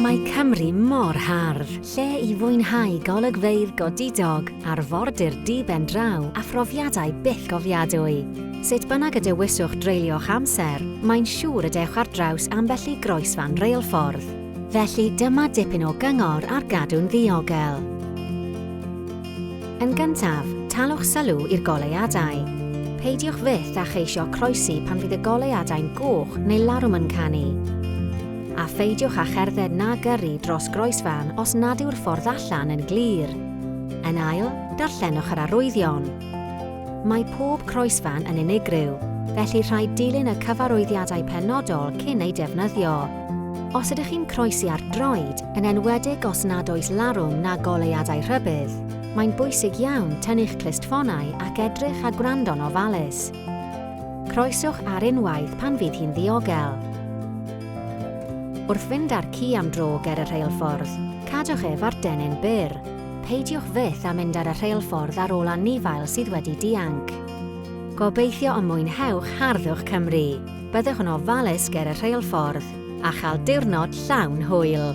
Mae Cymru mor hardd, lle i fwynhau golygfeydd godidog, arfordir diben draw a phrofiadau byth gofiadwy. Sut bynnag y dewiswch dreulio'ch amser, mae'n siŵr y dewch ar draws ambell i groesfan reilffordd. Felly dyma dipyn o gyngor ar gadw'n ddiogel. Yn gyntaf, talwch sylw i'r goleuadau. Peidiwch fyth â cheisio croesi pan fydd y goleuadau'n goch neu larwm yn canu. A pheidiwch â cherdded na gyrru dros groesfan os nad yw'r ffordd allan yn glir. Yn ail, darllenwch yr arwyddion. Mae pob croesfan yn unigryw, felly rhaid dilyn y cyfarwyddiadau penodol cyn ei defnyddio. Os ydych chi'n croesi ar droed, yn enwedig os nad oes larwm na goleuadau rhybudd, mae'n bwysig iawn tynnu'ch clustffonau ac edrych a gwrando'n ofalus. Croeswch ar unwaith pan fydd hi'n ddiogel. Wrth fynd â'r ci am dro ger y rheilffordd, cadwch ef ar dennyn byr. Peidiwch fyth â mynd ar y rheilffordd ar ôl anifail sydd wedi dianc. Gobeithio y mwynhewch harddwch Cymru! Byddwch yn ofalus ger y rheilffordd a chael diwrnod llawn hwyl.